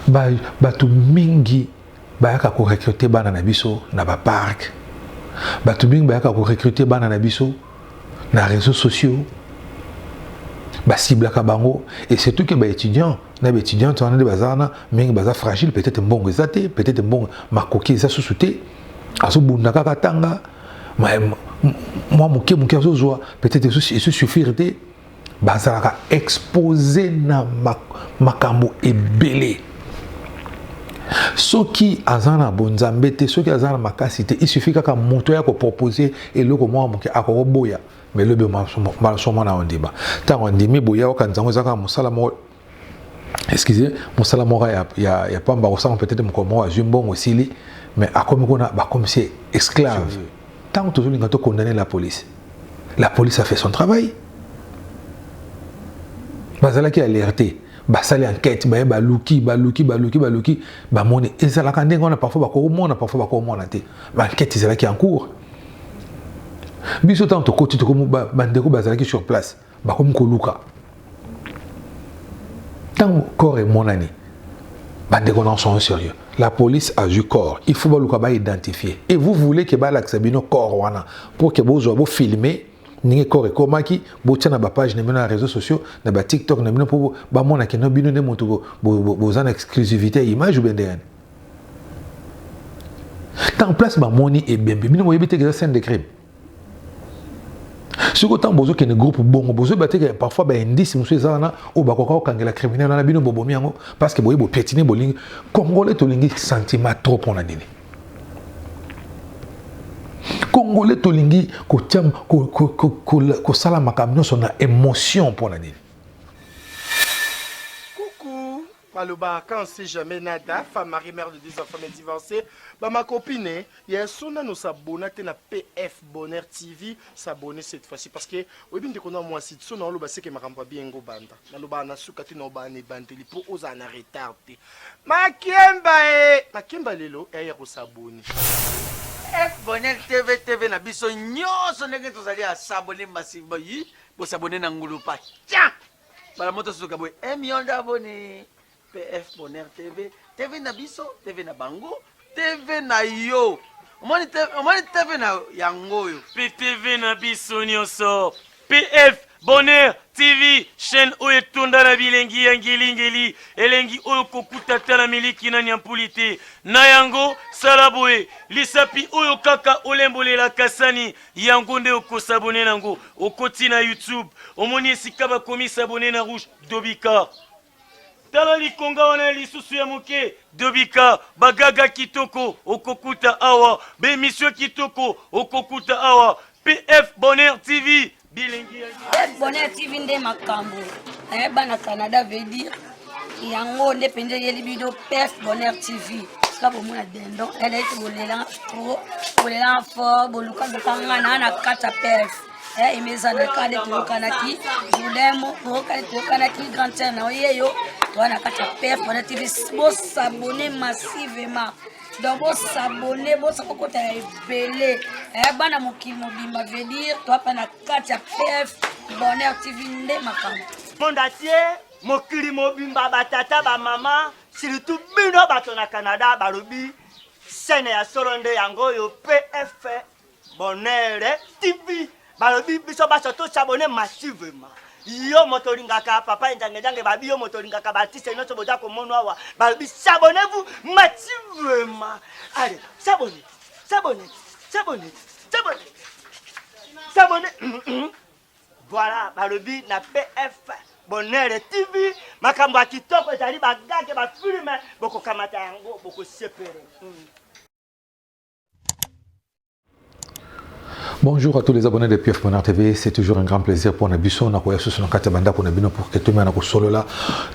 ba bato mingi bayaka ko recruter bana na biso na ba parc bato mingi bayaka ko recruter bana na biso na réseaux sociaux basiblaka bango et surtout ke baétudiant na baétudiante wana nde baza wana mingi baza fragile peut-être mbongo eza te peut-être mbongo makoki eza susu te azobunda kaka tanga mwa moke moke azozwa peut-être esusuffire te bazalaka expose na makambo ebele soki aza na bonzambe te soki aza na makasi te isufi kaka moto ya kopropose eloko mwa moke akokoboya melobi malsomona ondima ntango andimi boya okanisa yango ezaka mosala moko excusez mosala moko ya, ya, ya pamba kosanga peut-être mokolo moko azwi mbongo esili mais akomi kuna bakomisi ye esclave ntango tozolinga tokondane la police la police a fait son travail bazalaki alerte basali enquête baye baluki baluki baluki baluki bamoni ezalaka ndenge wana parfois bakomona parfois bakomona te baenquête ezalaki en cours biso ntango tokoti tokomi bandeko bazalaki sur place Bakomi koluka ntango corps emonani bandeko na sont sérieux la police a vu corps il faut baluka ba identifier et vous voulez que balakisa bino corps wana pour que bozwa bo filmer ndenge corps ekomaki botia na bapage na bino na réseaux sociaux na batiktok na bino mpo bamona keno bino nde moto boza na exclusivité ya image obe ndenge ntango place bamoni ebembe bino boyebi te keza scène de crime soki ntango bozokende groupe bongo bozoyeba te ke parfois baindice mosusu eza wana oyo bakoka kokangela criminel wana bino bobomi yango parce que boye bopietine bolingi congolais tolingi sentiment trop mpo na nini congolais tolingi kosala makambo nyonso na émotion mpo na nini maloba quand on sait jamais nada femme marie mère de deux enfants mais divorcée ba ma copine eh, ya so nano s'abonna te na pf bonheur tv s'abonner cette fois-ci parce que oyebi ndeko na mwasi so na oloba seke makambo ya bien ngo banda nalobaka na suka te na obaa na ebandeli mpo ozala na retard te makemba e makemba lelo eh, ya kosaboni f bonheur tv tv na biso nyonso ndenge tozali asabone massivement yi bosabone na ngulupa tia bala moto soka boye eh, million d'abonnés pf bonheur tv tv na biso tv na bango tv na yo omoni tv na yango oyo mpe tv na biso nyonso pf bonheur tv chaîne oyo etonda na bilengi ya ngelingeli elengi oyo kokuta ata na miliki na nyampuli te na yango sala boye lisapi oyo kaka olembolela kasani yango nde okosabone nango okoti na youtube omoni esika bakomi sabone na rouge dobika tala likonga wana ya lisusu ya moke dobika bagaga kitoko okokuta awa bemisio kitoko okokuta awa pf bonheur tv bilengi ya bonheur tv nde makambo eh, bana canada veut dire yango nde mpenza eyeli bino pef bonheur tv sika bomona dendon eleki bolela tro bolela fo boluka bokanga na na kati ya pef eh, emezanaka nde toyokanaki julemo boyokani toyokanaki grand sere na oyeyo toa na kati ya pef bonheur tv bosabone massivement donc bosabone bosa kokota ya ebele eh, bana mokili mobimba veut dire toapa na kati ya pf bonheur tv nde makambo monde atie Mokili mobimba ba tata ba mama surtout bino bato na Canada balobi chaîne ya solo nde yango oyo PF Bonheur TV balobi biso baso to s'abonner massivement yo moto olingaka papa enjangejange babi yo moto olingaka baartiste nyonso boza komono awa balobi s'abonnez vous mativema ale s'abonne s'abonne s'abonne s'abonne s'abonne Voilà, balobi na PF Bonheur TV makambo ya kitoko ezali bagage bafilme bokokamata yango bokosepele mm. Bonjour à tous les abonnés de PF Bonheur TV. C'est toujours un grand plaisir pour Nabiso, Nakoya Susu, Nakatia Banda, pour Nabino, pour que tout le monde solola.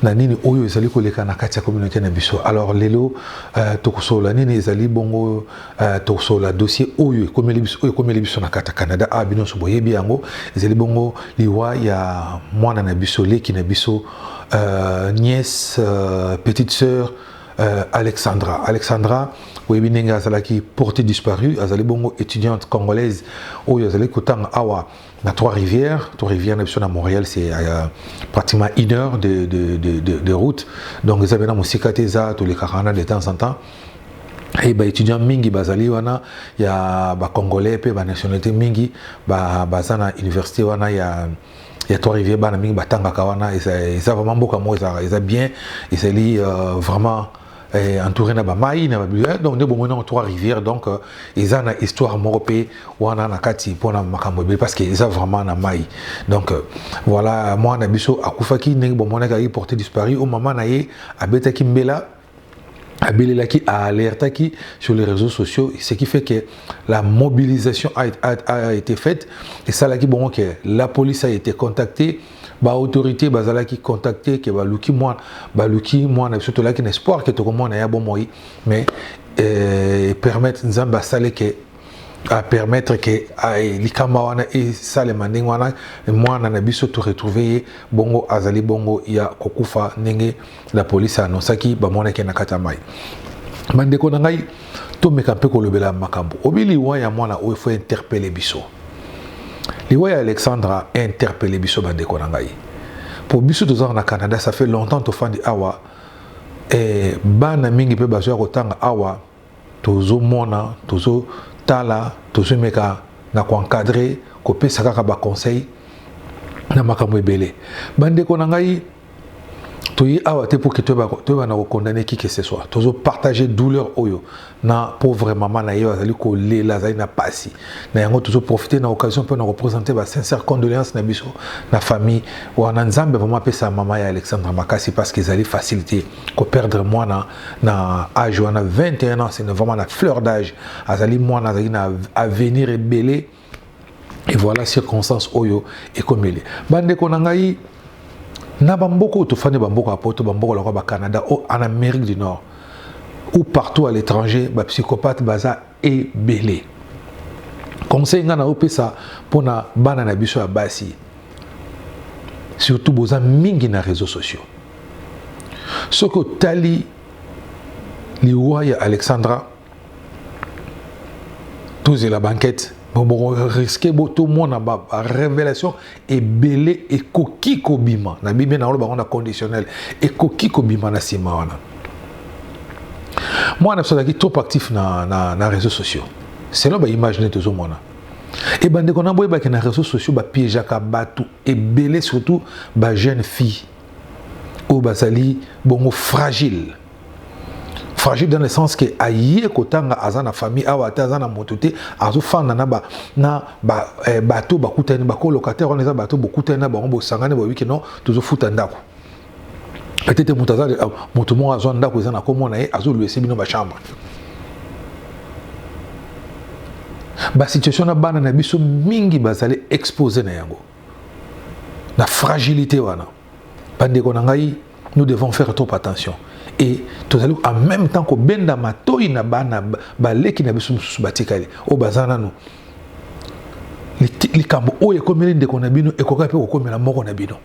Nanini, Oyo, Ezali, Koleka, Nakatia, Communauté Nabiso. Alors, Lelo, euh, Tokosolola, Nini, Ezali, Bongo, Uh, tokosola dossier oyo ekomeli biso oyo ekomeli biso na kata Canada a ah, bino nso boyebi yango ezali bongo liwa ya mwana na biso leki na biso uh, nièce uh, petite sœur euh, Alexandra. Alexandra, oyebi ndenge azalaki portée disparue, azali bongo étudiante congolaise oyo azali kotanga awa na Trois-Rivières. Trois-Rivières na biso na Montréal, c'est euh, pratiquement une heure de, de, de, de, de route. Donc eza bena mosika te eza tolekaka wana de temps en temps. et ba étudiants mingi bazali wana ya ba congolais pe ba nationalité mingi ba baza na université wana ya ya trois rivières bana mingi batangaka wana eza vraiment mboka moko eza eza bien ezali euh, vraiment eh, entouré na ba mai na ba bibliothèque donc nde bomoni yango trois rivières donc euh, eza na histoire moko pe wana na kati mpo na makambo ebele parce que eza vraiment na mai donc euh, voilà mwana na biso akufaki ndenge bomonaki ayi porte disparu o mama na ye abetaki mbela abelelaki alertaki sur les réseaux sociaux ce qui fait que la mobilisation a, a, a été faite esalaki bongo que la police a été contactée baautorité bazalaki contacte ke baluki mwana baluki mwana biso tolaki na espoir ke tokomona ya bomoi mais eh, permettre nzambe asale ke apermettre ke eh, likama wana esalema ndenge wana mwana na biso toretrouve ye bongo azali bongo ya kokufa ndenge La police a annoncaki bamonaki na kati ya mai. Bandeko na ngai tomeka mpe kolobela makambo obi liwa ya mwana oyo efo interpele biso liwa ya alexandra interpele biso bandeko na ngai mpo biso tozala na canada ça fait longtemps tofandi awa e, bana mingi mpe bazoya kotanga awa Tozo mona, tozo tala, tozo meka na ko encadrer, ko pesa kaka ba conseils na makambo ebele. Ba ndeko na ngai, toye awa te pour que toyeba na ko condamner qui que ce soit. Tozo partager douleur oyo na pauvre maman na ye oyo azali ko lela, azali na pasi. Na yango tozo profiter na occasion pona ko presenter ba sincères condoleances na biso na famille wana. Nzambe vraiment apesa maman ya Alexandra makasi parce que ezali facile te. ko perdre mwana na âge wana 21 ans c'est vraiment la fleur d'âge azali mwana azali na avenir ebele et voilà circonstance oyo ekomeli bandeko na ngai na bamboka oyo tofandi bamboka ya poto bamboka lokola bacanada o en amérique du nord ou partout à l'étranger bapsychopathe baza ebele conseil nga na opesa pona bana na biso ya basi surtout boza mingi na réseaux sociaux soki otali liwa ya alexandra tozela banquete boboko riske botomona ba révélation ebele ekoki kobima na biblia naoloba yango na conditionnel ekoki kobima na nsima wana mwana biso azalaki trop actif na, na, na réseaux sociaux selon baimage nde tozomona e bandeko na boyebaki na réseaux sociaux bapiégeaka bato ebele surtout bajeune fille oyo bazali bongo fragile fragile dans le sens que aye kotanga aza na famille awa ata aza na moto te azofanda na ba na ba eh, bato bakutani ba colocataire wana eza bato bokutani na bango bosangani boyebi ke non tozofuta ndako peut-être moto aza euh, moto moko azwa ndako eza na komo na ye azoluese bino bachambre basituation na bana na biso mingi bazali expose na yango na fragilité wana bandeko na ngai nous devons faire trop attention et tozali en même temps kobenda matoi na bana baleki na biso mosusu batikali oyo baza nano likambo oyo ekomeli ndeko na bino ekoka mpe kokomela moko na bino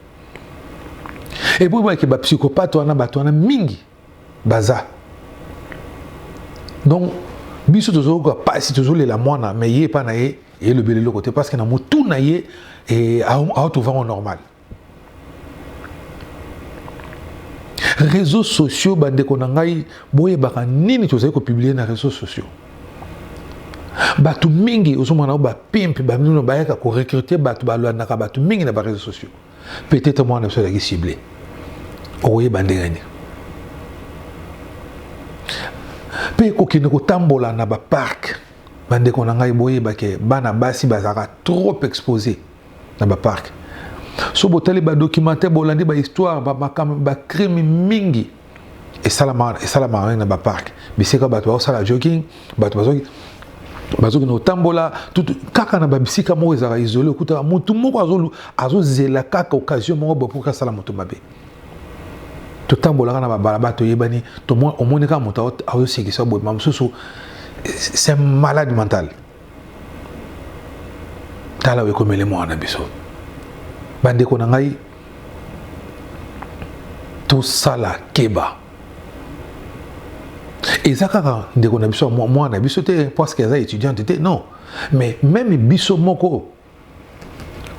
epuis boyeke bapsychopate wana bato wana mingi baza donc biso tozoyoka mpasi tozolela mwana me ye epai na ye elobeli eloko te parce que na motu na ye eh, aotovango normal réseaux sociaux bandeko na ngai boyebaka nini tozali kopublie na réseaux sociaux bato mingi ozomona yango bapimpe bamino bayaka korecrute bato balandaka bato mingi na bareseau sociaux peut-être mwana biso azalaki cible okoyeba ndenge nini mpe kokende kotambola na baparke bandeko na ngai boyebake bana basi bazalaka trop expose na ba parc so botali ba documentaire bolandi ba histoire ba makambo ba crime mingi esalama esalamaka na ba parc bisika bato baosala jogging bato bazoki bazokende kotambola kaka na babisika moko ezalaka isole okutaka motu moko azozela kaka occasion moko bopoki asala moto mabe totambolaka na babalaba toyebani omoni kaka moto azosekisa boye ma mosusu c'est malade mentale tala oyo ekomeli mwana na biso bandeko na ngai tosala keba eza kaka ndeko na biso mwana na biso te parceke aza étudiante te non mais meme biso moko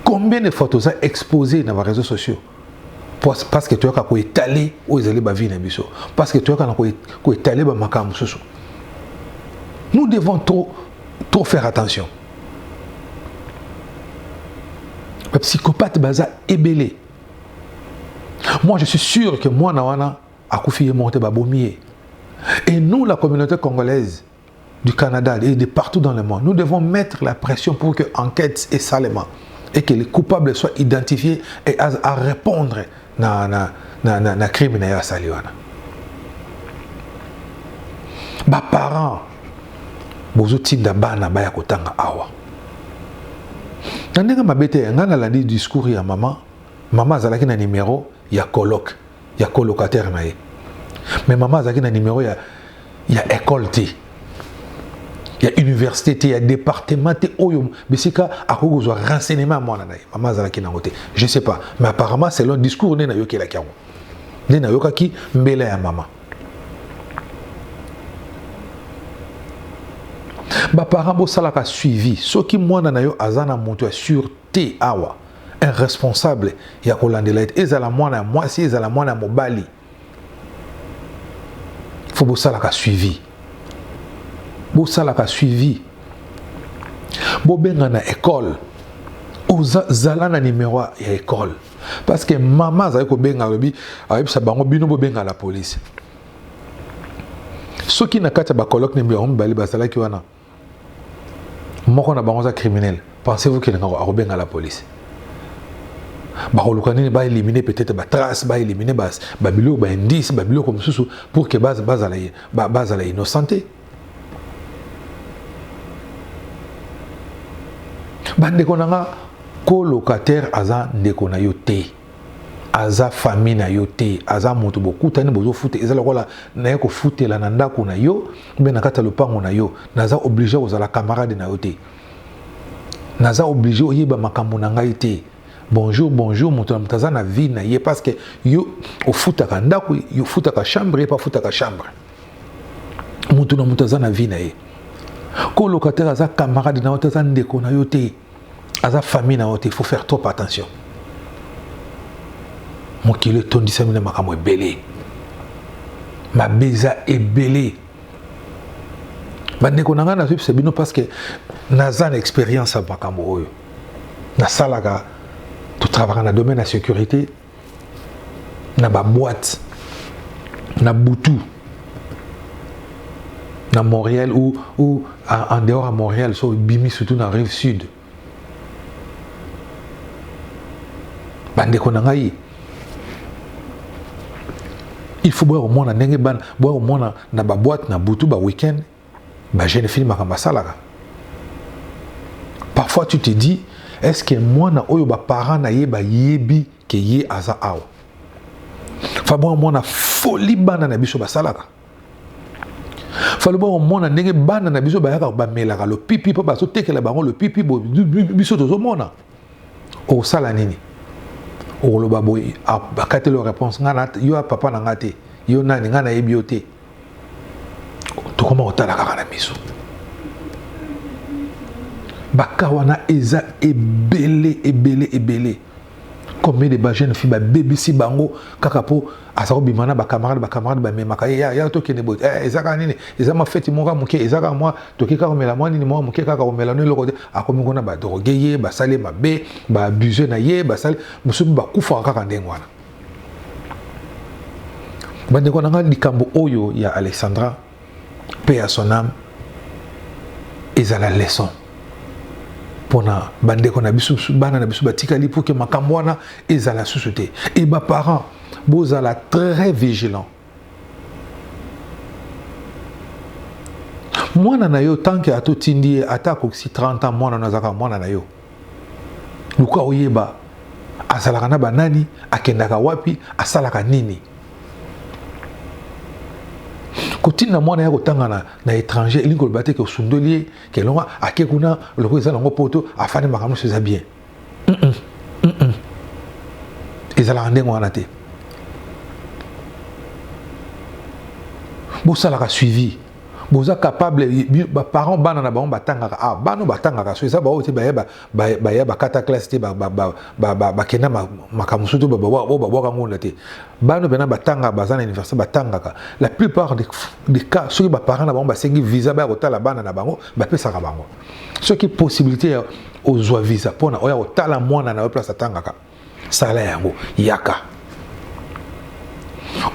combien de fois toza expose na ba réseaux sociaux parce que toyaka koetale oyo ezali bavie na biso parce que toyaka na koetale bamakambo mosusu nous devons trop, trop faire attention bapsychopathe baza ebele moi je suis sûr que mwana wana akufi ye moko te babomi ye et nous la communauté congolaise du Canada et de partout dans le monde, nous devons mettre la pression pour que enquête et salement et que les coupables soient identifiés et à, à répondre na na na na, na crime na saliwana. Ba parents bozo tinda bana baya kotanga awa. Na ndenge mabete nga na landi discours ya maman, maman azalaki na numéro ya colloque ya colocataire na ye mais mama azalaki na numero ya, ya ecole te ya université te ya département te oyo bisika akoki kozwa renseignement ya mwana na ye mama azalaki nango te je sais pas mais apparemment selon discours nde nayokelaki yango nde nayokaki mbela ya mama baparent bosalaka suivi soki mwana na yo aza na moto ya sur te awa un responsable ya kolandela ete ezala mwana ya mwasi ezala mwana ya mobali fo bosalaka suivi bosalaka suivi bobenga na ekole ozala na nimero ya ekole parce que mama azali kobenga alobi ayebisa bango bino bobenga la polise soki na kati ya bacoloke na bango mibale bazalaki wana moko na bango aza criminel pensez vous qu'il ngako akobenga la police bakoluka nini baelimine peut-être batrace baelimine babiloko baindice babiloko mosusu pour que bazala innocente bandeko na nga kolocataire aza ndeko na yo te aza famille na yo te aza moto bokutani bozofuta eza lokola naye kofutela na ndako na yo mpe na kati ya lopango na yo naza oblige kozala camarade na yo te naza oblige oyeba makambo na ngai te bonjour bonjour moto na moto aza na vie na ye parce que yo ofutaka ndako yo ofutaka chambre ye mpe afutaka chambre moto na moto aza na vie na ye ko locataire aza camarade na yo te aza ndeko na yo te aza famille na yo te faut faire trop attention mokili etondisami na makambo ebele mabe eza ebele bandeko na ngai nazwipesa bino parce que naza na expérience ya makambo oyo nasalaka totravaka na domaine ya sécurité na ba boîte na butu na Montréal ou, ou en dehors à Montréal so bimi surtout na rive sud bandeko na ngai il faut boya komona ndenge bana boya komona na baboite na butu ba week-end Ba jeune fille makambo asalaka. Parfois tu te dis est-ce que mwana oyo ba parents na ye ba yebi que ye aza awa. Fabon mwana folie bana na biso basalaka. Faloba mwana ndenge bana na biso bayaka bamelaka le pipi po baso tekela bango le pipi biso tozo mona. Osala nini? Oloba boye akatelo réponse ngana yo papa na ngate yo nani ngana yebi yo te. tokoma kotala kaka na miso baka wana eza ebele ebele ebele combien de bajeune fille babebisi bango kaka mpo aza kobima na bacamarade bacamarade bamemaka ye ya tokende boye eh, eza kaka nini eza mwa feti moko moke eza kaka mwa toki kaka komela mwa nini mwa moke kaka komela no eloko te akomi kuna badroge ye basali ye mabe baabuse na ye basali mosusu bakufaka kaka ndenge wana bandeko na ngai likambo oyo ya alexandra mpe ya son ame ezala leson mpona bandeko na biso bana na biso batikali mpo ke makambo wana ezala susu te e baparent bozala très vigilant mwana na yo tanke atotindi ye ata akokisi 30 ans mwana na azalaka mwana na yo luka oyeba azalaka na banani akendaka wapi asalaka nini kotinda mwana ya kotanga na, na étranger elingi koloba te ke osundoli ye ke elonga ake kuna lokola eza nango poto afandi makambo nyonso eza bien mm -mm. Mm -mm. ezalaka ndenge wana te bosalaka suivi boza capable ba parents bana na bango batangaka ah bana batangaka so eza baoyo te baya baya bakata classe te bakenda makambo mosusu te oyo babwaka ngonda te bana mpena batangaka baza na université batangaka la plupart de cas soki baparent na bango basengi visa baya kotala bana na bango bapesaka bango soki possibilité ya ozwa visa mpona oya kotala mwana na yo place atangaka sala yango yaka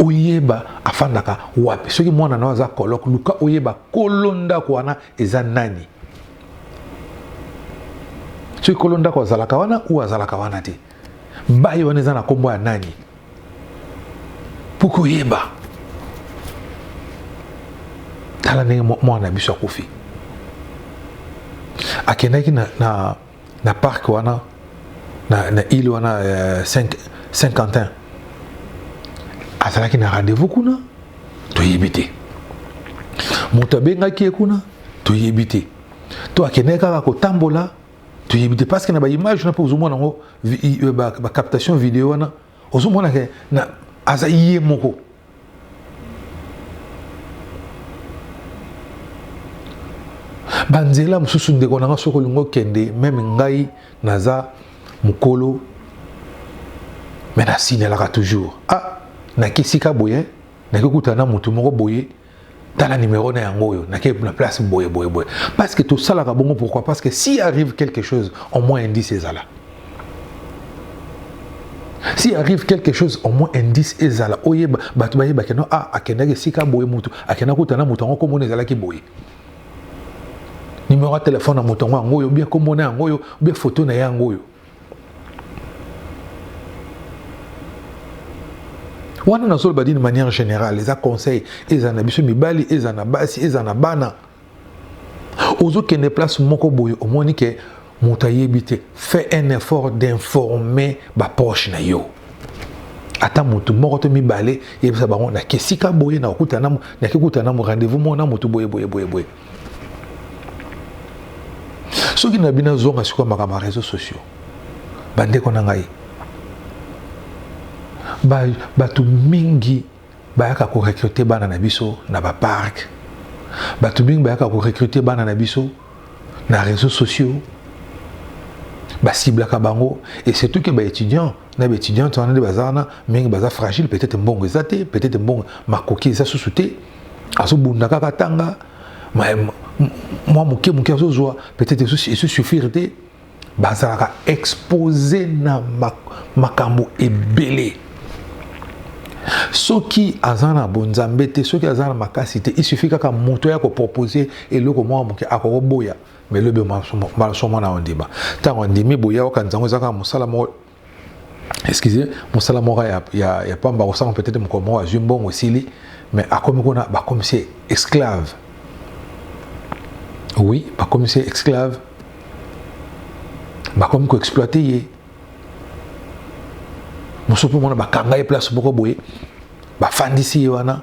oyeba afandaka wapi soki mwana na aza coloque luka oyeba kolo ndako wana eza nani soki kolo ndako azalaka wana ou azalaka wana te baye wana eza na nkombo ya nani mpo koyeba tala ndenge mwana na biso akufi akendaki na, na na parc wana na, na ile wana euh, saint quentin azalaki na rendez-vous kuna toyebi te moto abengaki ye kuna toyebi te to akendeki kaka kotambola toyebi te parce que na baimage na mpe ozomona yango euh, bacaptation video wana ba Ozo mona ke na aza ye moko. Ba nzela mususu ndeko na nga soki olingi okende meme ngai naza mukolo mais na signalaka toujours ah na kesika boye na kekutana na mutu moko boye tala numéro na yango oyo nake na place boye boye boye parce que tosalaka bongo pourquoi parce que si arrive quelque chose au moins indice ezala si arrive quelque chose au moins indice ezala oyeba bato bayebake no ah akendaki esika boye motu akenda kutana moto yango komona ezalaki boye numéro ya telefone ya moto yango yango oyo bia komona yango oyo bia foto na ye yango oyo wana nazoloba dine manière générale eza conseil ezala na biso mibali ezala na basi ezala na bana ozokende place moko boye omoni ke moto ayebi te fait un effort d'informer baproche na yo ata motu moko to mibale yebisa bango nake esika boye nakokutana na rendez-vous moko na motu boye boye boye boye soki na bino azonga sikoyo makambo ya réseau sociaux bandeko na ngai bato mingi bayaka korecrute bana na biso na baparke bato mingi bayaka korecrute bana na biso na réseau sociaux basiblaka bango et surtout ke baétudiant na baétudiante wana nde baza wana mingi baza fragile peut-être mbongo eza te peut-être mbongo makoki eza susu te azobunda kaka atanga mwa moke moke azozwa peut-être ezo suffire te bazalaka expose na makambo ebele soki aza na bonzambe te soki aza na makasi te il suffit kaka moto ya kopropose eloko moko moke akokoboya mais lobi maloso mwana ondima ntango andimi boya okanisa yango eza kaka mosala moko excusez mosala moko ya, ya, ya pamba kosanga peut-être mokolo moko azwi mbongo esili mais akomi kuna bakomisi ye esclave oui bakomisi ye esclave bakomi koexploite ye mosusu mpe mona bakanga ye place moko boye bafandisi ye wana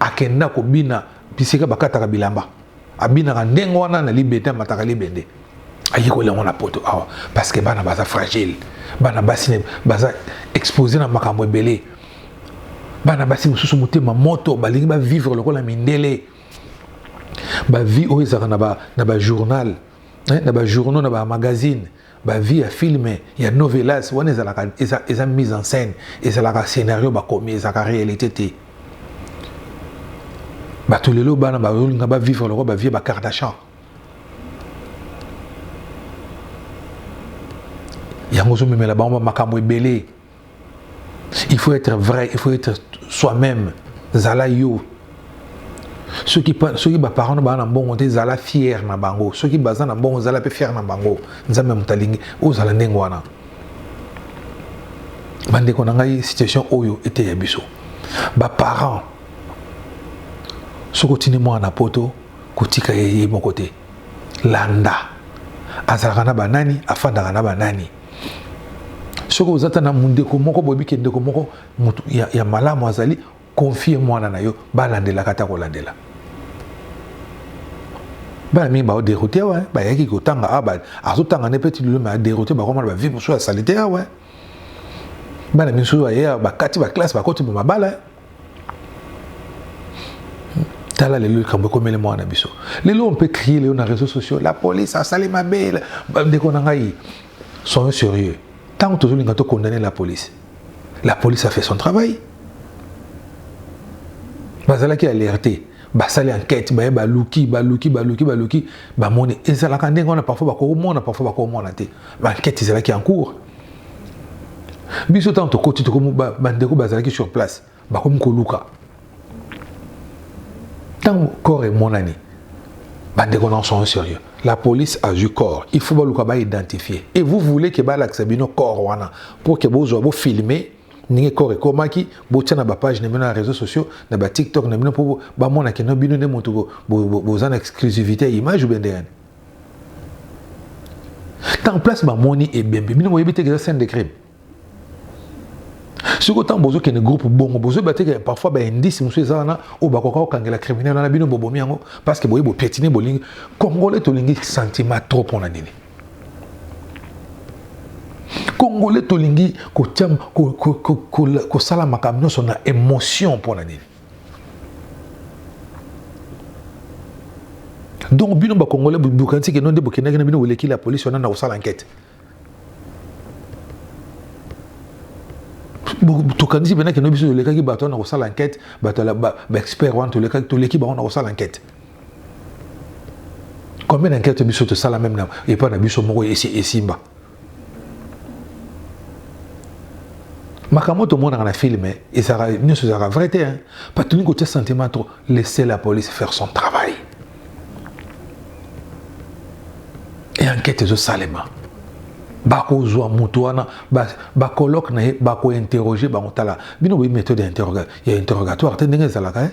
Akenda kobina bisika bakataka bilamba. Abinaka ndenge wana na libende, amataka libende. Ayekoli yango na poto awa parce que bana baza fragile. Bana basi baza expose na makambo ebele. Bana basi mosusu motema moto balingi ba vivre lokola mindele. Ba vie oyo ezalaka na ba na ba journal, eh, na ba journaux, na ba magazines. Ba vie ya film ya novelas wana ezalaka eza eza mise en scène ezalaka scenario bakomi ezalaka realite te bato lelo bana bazolinga ba vivre lokola ba vie ba kardashan yango ozomemela bango bamakambo ebele il faut être vrai il faut être soi-même zala yo soki soki ba parents ba na mbongo te zala fier na bango soki baza na mbongo zala pe fier na bango nzambe mutalingi ozala ndenge wana bandeko na ngai situation oyo eteya biso ba parents soki otindi mwana na poto kotika ye ye moko te landa azalaka na banani afandaka na banani soki oza ata na mundeko moko boyebi ke ndeko moko mutu ya, ya malamu azali confie mwana na yo balandelaka ata kolandela bana mingi baoderoute awa eh. bayaki kotanga awa ah, azotanga nde peti lelo ma aderoute bakomana bavi mosusu ya salite awa eh. bana mingi soki baye bakati baklasse bakoti bomabala eh. tala lelo likambo ekomeli mwana na biso lelo on peut crier lelo na réseaux sociaux la police asali mabe ndeko na ngai soyons sérieux ntango tozolinga to condamner la police la police a fait son travail bazalaki alerte basali enquête baye baluki baluki baluki baluki bamoni ezalaka ndenge wana parfois bakomona parfois bakomona te baenquête ezalaki en cours biso ntango tokoti tokomi bandeko bazalaki sur place bakomi koluka ntango corps emonani bandeko na sont sérieux la police a eu corps il faut baluka baidentifie et vous voulez ke balakisa bino corps wana pour ke bozwa bofilme ndenge corps ekomaki botya na bapage na bino na réseaux sociaux na batiktok na bino mpo bamona keno bino nde moto boza na exclusivité ya image ou bien ndenge ntango place bamoni ebembe bino boyebi te eza scène de crime soki ntango bozokende groupe bongo bozoyeba te ke parfois baindice mosusu eza wana oyo bakoka kokangela criminel wana bino bobomi yango parce que boye bopietine bolingi congolais tolingi sentiment trop mpo na nini congolais tolingi kosala makambo nyonso na émotion mpo na nini donc bino bakongole bokanisi keno nde bokendaki na bino boleki la polisi wana na kosala ankete tokanisi mpena keno biso tolekaki bato wana na kosala ankete bato baexpert wana tolekaki toleki bango na kosala ankete combien d'ankete biso tosala meme epai na biso moko esimba makambo tomonaka na filme ezalaka nyonso ezalaka vrai te hein. bato tolingi kotya sentiment trop laisser la police faire son travail e enquête ezosalema bakozwa moto wana bacolloque na ye bakointerroge bango tala bino boyi méthode ya interrogatoire te ndenge ezalaka e eh?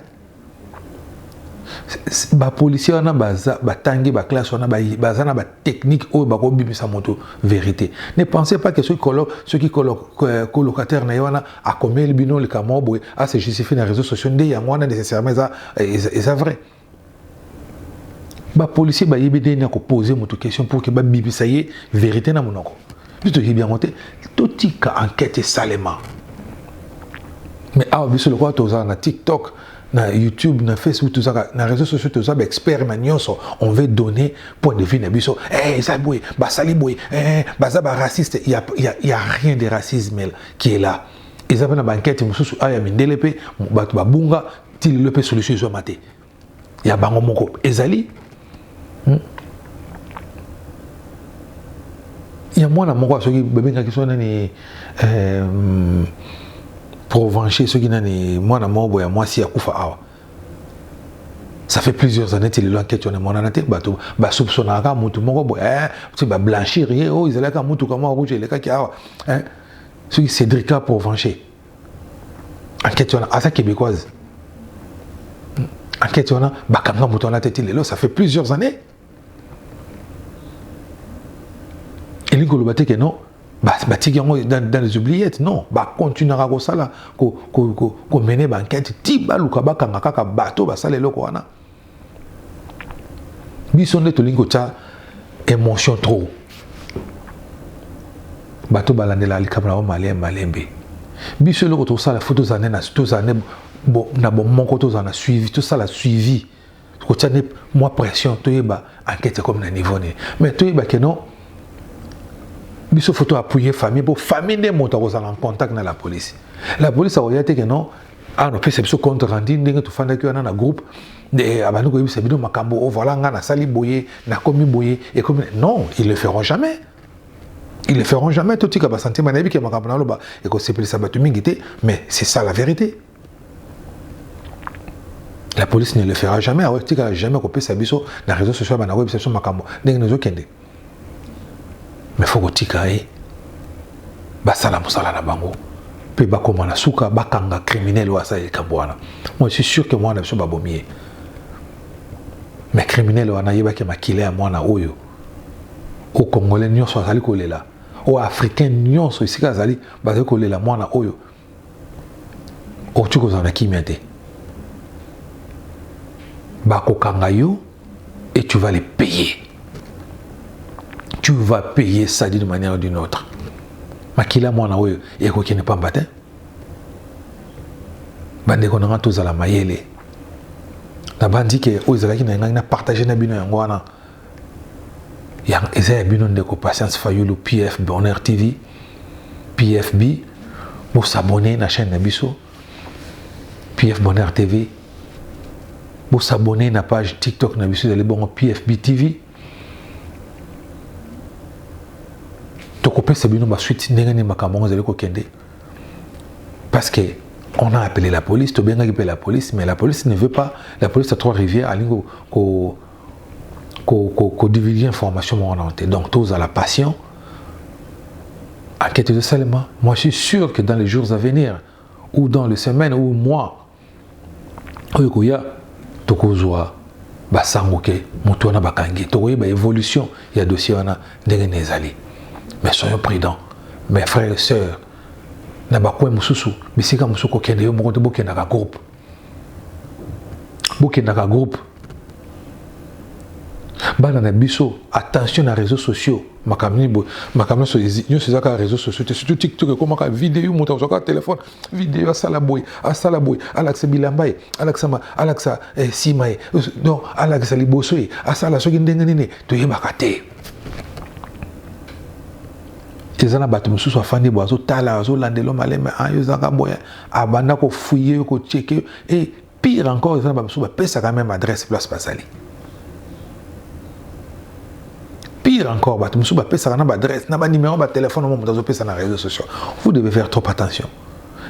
ba policiers wana baza batangi ba classe wana baza na ba technique oyo bako bimisa moto verite ne pensez pas que soki kolo soki kolo euh, colocataire na ye wana akomeli bino likambo boye a se justifier na réseaux sociaux nde yango wana nécessairement eza eza vrai ba policiers bayebi ndenge ya ko poser moto question pour que ba bimisa ye verite na monoko biso toyebi yango te totika enquête esalema mais awa biso lokola tozala na tiktok na youtube na facebook tozaka na réseau sociaux toza baexpert na nyonso on veut donner point de vue na biso eh, eza boye basali boye eh, baza baraciste ya, ya, ya rien de racisme qui est là eza mpe na bankete mosusu awa ya mindele mpe bato babunga ti lelo mpe solution ezwama te ya bango moko ezali hmm? ya mwana moko soki babengaki soki nani eh, hmm, provenche soki nani mwana moko boye ya mwasi akufa awa ça fait plusieurs années ti lelo anketi wana emonana te bato basoupsonaka kaka motu moko boye eh, ti bablanchir ye oyo oh, ezalaki kaka motuka moko rouge elekaki awa eh, soki cédrica provenche enquête wana aza québécoise enquête wana bakanga moto wana te ti lelo ça fait plusieurs années elingi koloba te ke non batiki yango dans les oubliettes non bacontinuaka kosala komene baenquête ti baluka bakanga kaka bato basala eloko wana biso nde tolingi kotya emotion trop bato balandela likambo na bango malembe malembe biso eloko tosala fo tozala nde tozala nde na bomoko tozala na suivi tosala suivi kotya nde mwa pression toyeba enquête ekomi na niveau nini mais toyeba ke non biso fo toappuye famille mpo famille nde moto akozala en contact na la police la police akoya te ke non awa napesa biso compte rendu ndenge tofandaki wana na groupe eh, abandi koyebisa bino makambo o oh, voilà ngai nasali boye nakomi boye ekomi non ils le feront jamais ils le feront jamais totika basentiment nayebi ke makambo naloba ekosepelisa bato mingi te mais c'est ça la vérité la police ne le fera jamais aotikala jamais kopesa biso na réseau social bana koyebisa biso makambo ndenge nazokende mais faut kotika ye basala mosala na bango mpe bakoma na suka bakanga criminel oyo asala likambo wana moi suis sûr que mwana biso babomi ye mais criminel wana ayebaki makila ya mwana oyo o congolais nyonso azali kolela oyo africain nyonso esika azali bazali kolela mwana oyo okoki kozala na kimia te bakokanga yo et tu vas les payer tu vas payer ça d'une manière ou d'une autre makila mwana oyo ekokende pamba te bandeko na ngai tozala mayele nabanzi ke oyo ezalaki na ngai na partage na bino yango wana ya eza ya bino ndeko patience fayulu pf bonheur tv pfb bosabone na chaîne na biso pf bonheur tv bosabone na page tiktok na biso ezali bongo pfb tv tokopesa bino basuite ndenge nini makambo yango ezali kokende parce que on a appelé la police tobengaki mpe la police mais la police ne veut pas la police ya trois rivières alingi ko ko ko ko divulguer information moko na te donc tous à la passion enquête de Salema moi je suis sûr que dans les jours à venir ou dans les semaines ou mois oyo koya tokozwa basango ke moto wana bakangi tokoyeba évolution ya dossier wana ndenge na ezali mais soyons prudents mes frères et sœurs na bakoin mosusu bisika mosusu kokende yo moko te bokendaka groupe bokendaka groupe bana na biso attention na réseaux sociaux makambo nini boye makambo nyonso nyonso eza kaka réseaux sociaux te surtout tiktok ekomaka video moto azwa kaka telefone video asala boye asala boye alakisa bilamba ye alakisama alakisa eh, nsima ye donc alakisa liboso ye asala soki ndenge nini toyebaka te eza na bato mosusu afandi boye azotaala azolandelo maleme ayo ah, ezaka boye abanda ko fouiller yo ko checker yo et pire encore eza na bamosusu bapesaka meme adresse place bazali pire encore bato mosusu bapesaka na baadresse na banimero batelefone mo moto azopesa na réseau sociaux vous devez faire trop attention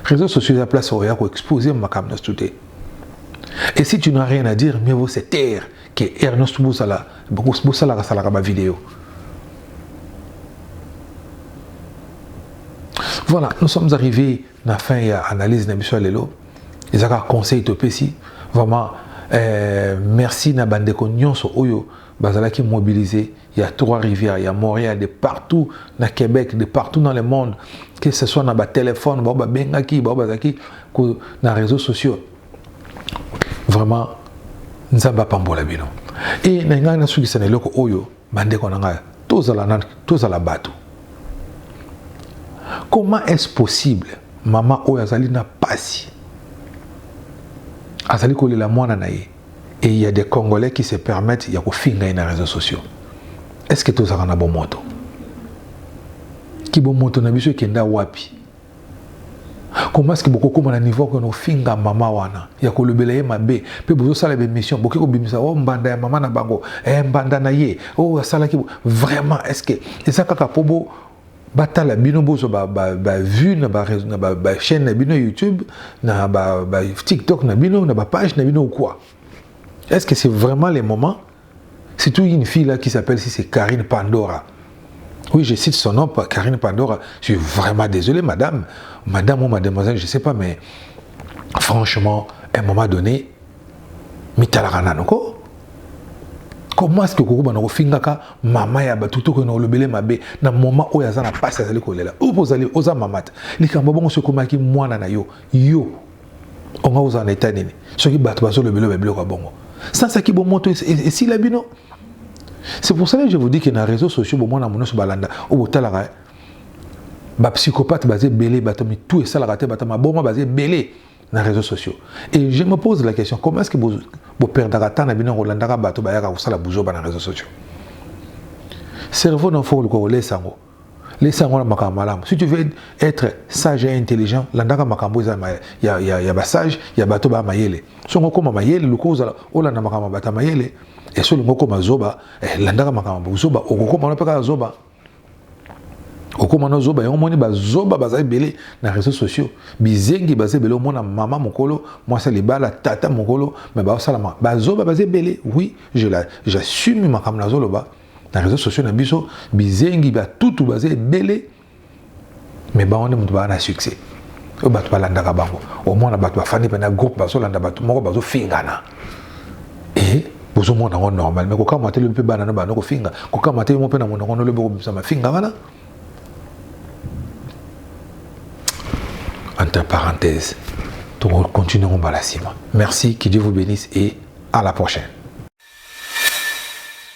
réseau sociaux eza place oya koexpose makambo nyonso tu te et si tu n'as rien à dire mieux vaut se taire que heure nyonso bosala bosalaka salaka bavideo voilà nous sommes arrivés Na fin ya analyse na biso ya lelo, eza kaka conseil topesi vraiment euh, merci na bandeko nyonso oyo bazalaki mobilisés ya trois rivières ya montréal de partout na québec de partout dans le monde que ce soit na batelefone bao babengaki bao bazalaki na réseaux sociaux vraiment nzambe apambola bino e na ngai nasukisa na eloko oyo Bandeko na ngai, tozala na tozala bato. Comment est-ce possible mama oyo azali na pasi azali kolela mwana na ye et il y a des Congolais qui se permettent ya kofinga ye na réseaux sociaux. Est-ce que tozalaka na bomoto? Kibomoto na biso ekenda wapi? Comment est-ce que bokokoma na niveau que nofinga mama wana ya kolobela ye mabe mpe bozosala bemission boke kobimisa o oh, mbanda ya mama na bango e mbanda na ye o oh, asalaki vraiment est-ce que eza kaka mpo bo batala bino bozwa bavue na bachaîne na bino youtube na batiktok na bino na bapage na bino ou quoi est-ce que c'est vraiment le moment Surtout une fille là qui s'appelle si c'est Karine Pandora. Oui, je cite son nom, Karine Pandora. Je suis vraiment désolé, madame. Madame ou mademoiselle, je ne sais pas, mais franchement, à un moment donné, mitalakana noko. Comment est-ce que koko banako fingaka mama ya ba tuto ko no lobele mabe na moment oyo aza na passe azali kolela. Opo ozali oza mamata. Likambo bongo sokomaki mwana na yo. Yo onga kozala na etat nini soki bato bazolobela ba biloko ya bongo sansaki bomoto esila bino c'est pour cela que je vous dis que na réseau sociaux bomona mo nyonso balanda oyo botalaka eh. bapsychopathe baza ebele bato mitu esalaka te bato maboma baza ebele na réseau sociaux et je me pose la question comment est ce que boperdaka temps na bino ya kolandaka bato bayaka kosala buzoba na réseau sociaux cerveau na fo oluka kolesa yango lesa yango na makambo malamu si tu veux être sage et intelligent landaka makambo eza ya, ya, ya basage ya bato baya mayele songo okoma mayele luka ozala olanda makambo ya bato ya mayele eso olingi okoma zoba eh, landaka makambo zoba okokoma wana mpe kaka zoba okoma na zoba yango omoni bazoba baza ebele na réseau sociaux bizengi baza ebele omona mama mokolo mwasi ya libala tata mokolo me baosalama bazoba baza ebele oui j'assume makambo nazoloba na réseaux sociaux na biso bizengi ba tutu baza ebele mais bango nde moto baa na succès oyo bato balandaka bango omona bato bafandi mpena groupe bazolanda bato moko bazofingana e bozomona yango normal mais kokamwa te lobi mpe bana no bana kofinga kokamwa te mo mpe na monoko no lobi okobimisa mafinga wana entre parenthèse tokokontinue yango mbala nsima merci que dieu vous bénisse et à la prochaine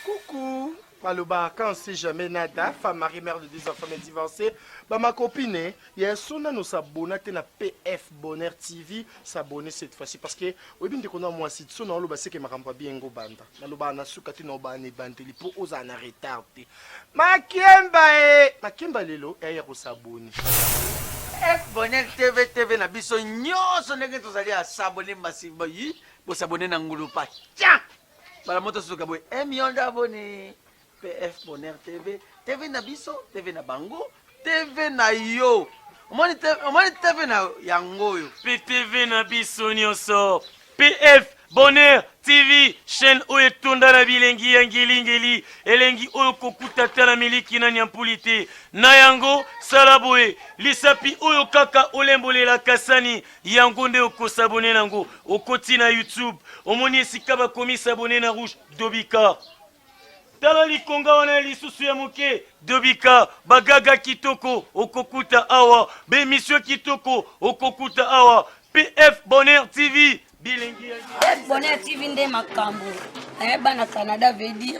Coucou maloba quand si jamais nada femme marie mère de deux enfants mais divorcée ba ma copine ya so nano sabona te na pf bonheur tv s'abonner cette fois-ci parce que oyebi ndeko na mwasi so na oloba seke makambo abi engo banda naloba na suka te na oba na ebandeli po ozala na retard te makemba e makemba lelo eya kosaboni f bonheur tv tv na biso nyonso ndenge tozali asabone masiba yi Bo s'abonner na ngulupa. Tiens! Bala moto suka boy. Eh mionda abonné. PF Bonheur TV. TV na biso, TV na bango, TV na yo. Omoni TV, omoni TV na yango oyo. PTV na biso nyoso. PF Bonheur TV chaîne oyo etonda na bilengi ya ngelingeli elengi oyo kokuta ata na miliki na nyampuli te na yango sala boye lisapi oyo kaka olembolela kasani yango nde okosabone nango okoti na youtube omoni esika bakomi sabone na rouge dobika tala likonga wana ya lisusu ya moke dobika bagaga kitoko okokuta awa bemisio kitoko okokuta awa pf bonheur tv bilengi ya bonheur tv nde makambo eh, bana canada veut dire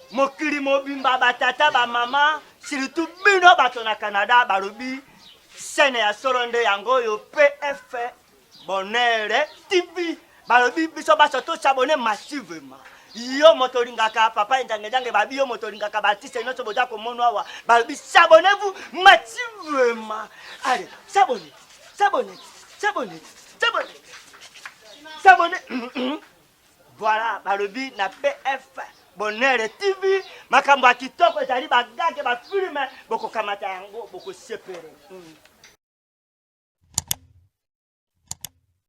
Mokili mobimba ba tata ba mama surtout bino bato na Canada balobi chaîne ya solo nde yango oyo PF Bonheur TV balobi biso baso to s'abonner massivement yo moto olingaka papa enjangejange babi yo moto olingaka baartiste nyonso boza komono awa balobi s'abonnez vous massivement allez s'abonner s'abonner s'abonner s'abonner s'abonner Voilà, balobi na PF Bonheur TV makambo ya kitoko ezali bagage bafilme bokokamata yango bokosepele mm.